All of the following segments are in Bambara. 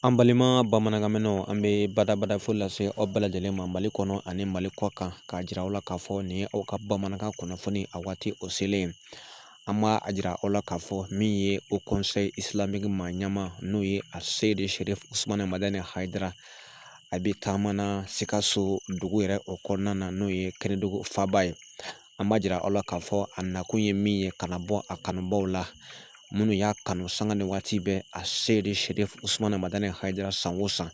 An balima bamanankanmɛnnaw an bɛ badabada fo lase aw bɛɛ lajɛlen ma mali kɔnɔ ani mali kɔ kan k'a jira aw la k'a fɔ nin ye aw ka bamanankan kunnafoni a waati o selen an b'a a jira aw la k'a fɔ min ye haut conseil islamique maa ɲɛma n'o ye aseyidi serifu usumani madani hayidara a bɛ taama na sikaso dugu yɛrɛ o kɔnɔna na n'o ye kɛnɛdugu faba ye an b'a jira aw la k'a fɔ a nakun ye min ye ka na bɔ a kanubaaw la minnu y'a kanu sanga ni waati bɛɛ aseyidi serifu usumani madani hayidara san o san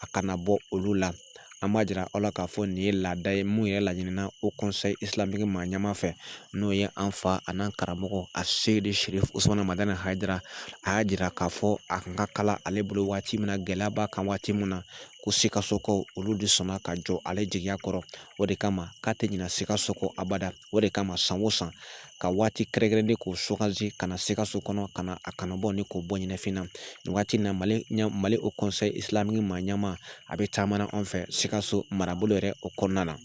a ka na bɔ olu la an b'a jira aw la k'a fɔ nin ye laada ye min yɛrɛ laɲinina haut conseil islamique maa ɲɛma fɛ n'o ye an fa a n'an karamɔgɔ aseyidi serifu usumani madani hayidara a y'a jira k'a fɔ a ka kala ale bolo waati min gɛlɛya b'a kan waati min na ko sikasokaw olu de sɔnna ka jɔ ale jigiya kɔrɔ o de kama k'a tɛ ɲina sikaso kɔ abada o de kama san o san ka waati kɛrɛnkɛrɛnnen k'o sugandi ka na sikaso kɔnɔ ka na a kanubaaw ni k'o bɔ ɲɛnafin na nin waati in na mali ɲɛ mali haut conseil islamique maa ɲɛma a bɛ taama na an fɛ sikaso marabolo yɛrɛ o kɔnɔna na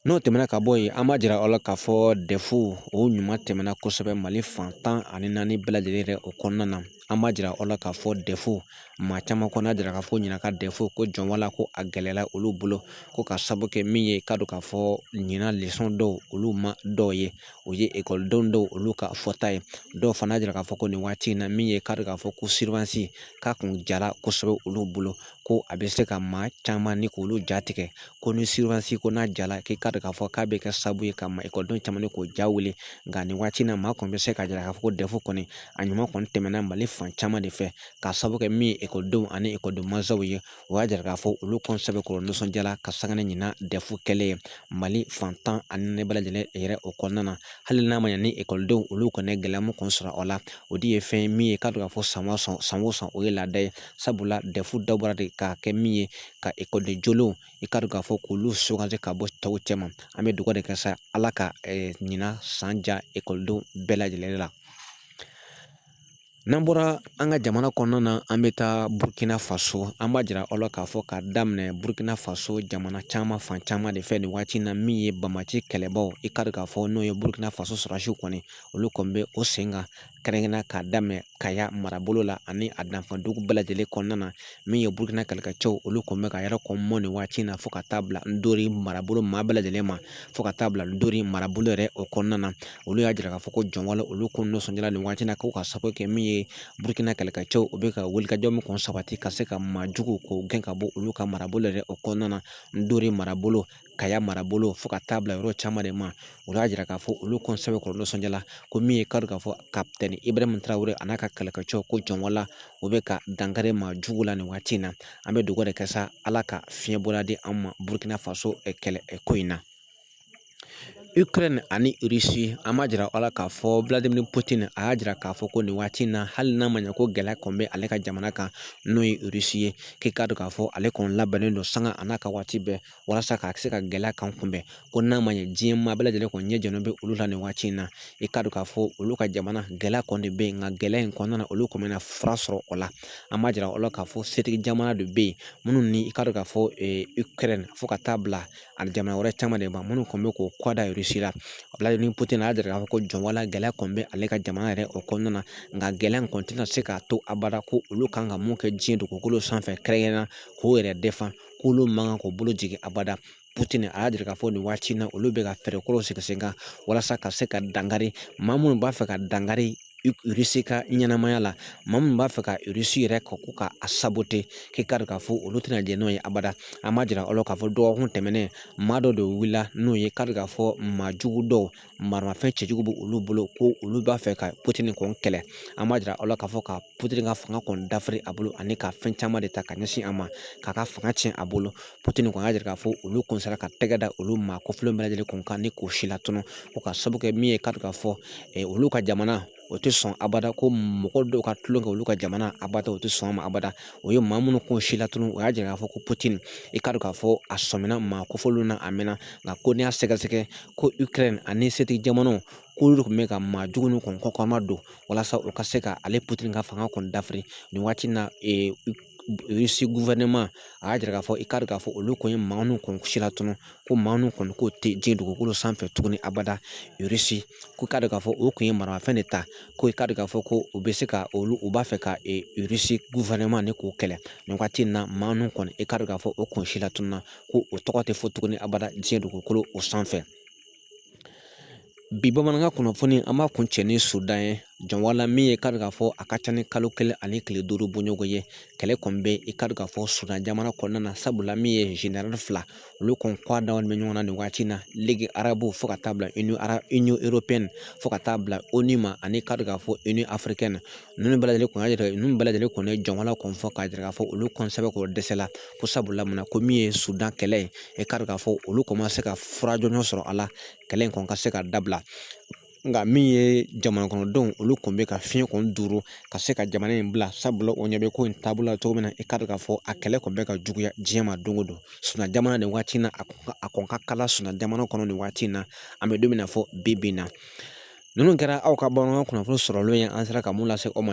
n'o tɛmɛna ka bɔ yen an b'a jira aw la k'a fɔ dɛfu o ɲuman tɛmɛna kosɛbɛ mali fan tan ani naani bɛɛ lajɛlen yɛrɛ o kɔnɔna na an b'a jira aw la k'a fɔ dɛfu maa caman kɔni y'a jira k'a fɔ ɲinan ka dɛfu ko jɔn wala ko a gɛlɛyala olu bolo ko k'a sabu kɛ min ye k'a dɔn k'a fɔ ɲinan lesɔn dɔw olu ma dɔw ye o ye ekɔlidenw dɔw olu ka fɔta ye dɔw fana y'a jira k'a fɔ ko nin waati in na min ye k'a dɔn k'a fɔ ko surveillance k'a kun jara kosɛbɛ olu bolo ko a bɛ se ka maa caman ni k'olu ja tigɛ ko ni surveillance ko n'a jala k'i k'a dɔn k'a fɔ k'a bɛ kɛ sababu ye ka maa ekɔlidenw caman ni k'o ja wuli nka nin waati in na maa kɔni bɛ se k'a jira k'a fɔ ko dɛfu kɔni a ɲuman kɔni tɛmɛna mali fan caman de fɛ k'a sababu kɛ min ye ekɔlidenw ani ekɔliden mansaw ye o y'a jira k'a fɔ olu kɔni sɛbɛkɔrɔ nisɔndiyala ka sanga ni ɲinan dɛfu kɛlen ye mali fan tan ani naani bɛɛ lajɛlen yɛrɛ o kɔnɔna na hali n'a ma ɲɛ ni ekɔlidenw olu kɔni ye gɛlɛya min kɔni sɔrɔ o la o de ye fɛn ye min ye k'a dɔn k'a fɔ san o san san o san o ye laada ye sabula dɛfu dabɔra de k'a kɛ min ye ka ekɔliden jolenw i k'a dɔn k'a fɔ k'olu sugandi ka bɔ tɔw cɛma an bɛ dugawu de kɛ sa ala ka ɲinan san diya ekɔlidenw bɛɛ lajɛlen la N'an bɔra an ka jamana kɔnɔna na an bɛ taa Burukina Faso an b'a jira aw la k'a fɔ k'a daminɛ Burukina Faso jamana caman fan caman de fɛ nin waati in na min ye banbaanci kɛlɛbaw i k'a dɔn k'a fɔ n'o ye Burukina Faso sɔrɔdasiw kɔni olu kɔni bɛ o sen kan kɛrɛnkɛrɛnnenya k'a daminɛ Kaya marabolo la ani a dafɛdugu bɛɛ lajɛlen kɔnɔna na min ye Burukina kɛlɛkɛcɛw olu kɔni bɛ ka yɛrɛ kɔn mɔ nin waati in na fo ka taa bila Dori marabolo maa bɛɛ lajɛlen ma fo ka taa bila Dori marabolo yɛrɛ o kɔnɔna na olu y'a jira k'a fɔ ko jɔn wala olu kɔni nisɔndiyara nin waati in na ko ka sabu kɛ min ye burukina kɛlɛkɛcɛw u bɛ ka wulikajɔ min kɔni sabati ka se ka maa jugu k'o gɛn ka bɔ olu ka marabolo yɛrɛ o kɔnɔna na ndori marabolo kaya marabolo fo ka taa bila yɔrɔ caman de ma u y'a jira k'a fɔ olu kɔni sɛbɛkɔrɔ nisɔndiyala ko min ye k'a dɔn k'a fɔ kapitɛni ibrahim tarawele a n'a ka kɛlɛkɛcɛw ko jɔn wala u bɛ ka dankari maa jugu la nin waati in na an bɛ dugawu de kɛ sa ala ka fiɲɛbɔda di an ma burukina faso kɛlɛ ko in na Ukraine ani Russie an b'a jira aw la k'a fɔ Vladimir Putin a y'a jira k'a fɔ ko nin waati in na hali n'a ma ɲɛ ko gɛlɛya kɔni bɛ ale ka jamana kan n'o ye Russie ye k'i k'a dɔn k'a fɔ ale kɔni labɛnnen don sanga a n'a ka waati bɛɛ walasa ka se ka gɛlɛya kan kunbɛn ko n'a ma ɲɛ diɲɛ maa bɛɛ lajɛlen kɔni ɲɛ jɔlen bɛ olu la nin waati in na i k'a dɔn k'a fɔ olu ka jamana gɛlɛya kɔni bɛ yen nka gɛlɛya in kɔnɔna na olu kɔni bɛna fura sɔrɔ o la an b'a jira aw la k'a fɔ setigi jamana de bɛ yen minnu ni i k'a dɔn k'a fɔ Ukraine fo ka taa bila ani jamana wɛrɛ caman de ma minnu kɔni bɛ k'o kɔ da Irisi la Vladimir Putin y'a jira k'a fɔ ko jɔn wala gɛlɛya kɔni bɛ ale ka jamana yɛrɛ o kɔnɔna na nka gɛlɛya in kɔni tɛna se k'a to abada ko olu kan ka mun kɛ diɲɛ dugukolo sanfɛ kɛrɛnkɛrɛnnenya k'o yɛrɛ dɛfan k'olu man kan k'o bolo jigin abada Putin a y'a jira k'a fɔ nin waati in na olu bɛ ka fɛɛrɛ kuraw sigi sen kan walasa ka se ka dankari maa minnu b'a fɛ ka dankari irisi ka ɲɛnamaya la maa minnu b'a fɛ ka irisi yɛrɛ ko ka a sabote k'i k'a dɔn k'a fɔ olu tɛna jɛ n'o ye abada an b'a jira aw la k'a fɔ dɔgɔkun tɛmɛnen maa dɔ de wulila n'o ye k'a dɔn k'a fɔ maa jugu dɔw maramafɛn cɛjugu bɛ olu bolo ko olu b'a fɛ ka Putin kɔni kɛlɛ an b'a jira aw la k'a fɔ ka Putin ka fanga kɔni dafiri a bolo ani ka fɛn caman de ta ka ɲɛsin a ma k'a ka fanga tiɲɛ a bolo Putin kɔni y'a jira k'a fɔ olu kɔni sera ka tɛgɛ da olu maa kofɔlen bɛɛ lajɛlen kun kan ni k'o si latunu ko ka sabu kɛ min ye k'a dɔn k'a fɔ olu ka jamana o tɛ sɔn abada ko mɔgɔ dɔw ka tulon kɛ olu ka jamana abada o tɛ sɔn a ma abada o ye maa minnu kɔni si latunu o y'a jira k'a fɔ ko Putin i k'a dɔn k'a fɔ a sɔmina maa kofɔlenw na a mɛnna nka ko n'i y'a sɛgɛsɛgɛ ko Ukraine ani setigi jamanaw k'olu de tun bɛ ka maa jugu ninnu kɔni kɔkɔma don walasa u ka se ka ale Putin ka fanga kɔni dafiri nin waati in na a y'a jira k'a fɔ i k'a dɔn k'a fɔ olu kɔni ye maa ninnu kɔni si latunu ko maa ninnu kɔni ko tɛ diɲɛ dugukolo sanfɛ tuguni abada Irisi ko k'a dɔn k'a fɔ o kɔni ye maramafɛn de ta ko i k'a dɔn k'a fɔ ko u bɛ se ka olu u b'a fɛ ka Irisi gouvernement nin k'o kɛlɛ nin waati in na maa ninnu kɔni i k'a dɔn k'a fɔ o kɔni si latununna ko o tɔgɔ tɛ fɔ tuguni abada diɲɛ dugukolo o sanfɛ bi bamanankan kunnafoni an b'a kuncɛ ni sudan ye jɔn wala min ye k'a dɔn k'a fɔ a ka ca ni kalo kelen ani tile duuru bɔɲɔgɔn ye kɛlɛ kɔni bɛ i k'a dɔn k'a fɔ sudan jamana kɔnɔna na sabula min ye zenerali fila olu kɔni kɔ dawalen bɛ ɲɔgɔn na nin waati in na Ligue arabe fo ka taa bila Union européenne fo ka taa bila ONU ma ani k'a dɔn k'a fɔ Union africaine ninnu bɛɛ lajɛlen kɔni y'a yira ninnu bɛɛ lajɛlen kɔni ye jamana kɔni fɔ k'a jira k'a fɔ olu kɔni sɛbɛkɔrɔ dɛsɛla ko sabula mun na ko min ye sudan kɛlɛ ye i k'a dɔn k'a fɔ olu kɔni ma se ka fura jɔnjɔn sɔrɔ a la kɛlɛ in kɔni ka se ka dabila nka min ye jamana kɔnɔdenw olu kɔni bɛ ka fiɲɛ kɔni duuru ka se ka jamana in bila sabula o ɲɛ bɛ ko in taabolo la cogo min na i k'a dɔn k'a fɔ a kɛlɛ kɔni bɛ ka juguya diɲɛ ma don o don sudan jamana nin waati in na a kɔni ka kalan sudan jamana kɔnɔ nin waati in na an bɛ don min na fɔ bi bi in na Ninnu kɛra aw ka bamanankan kunnafoni sɔrɔlenw ye an sera ka mun lase aw ma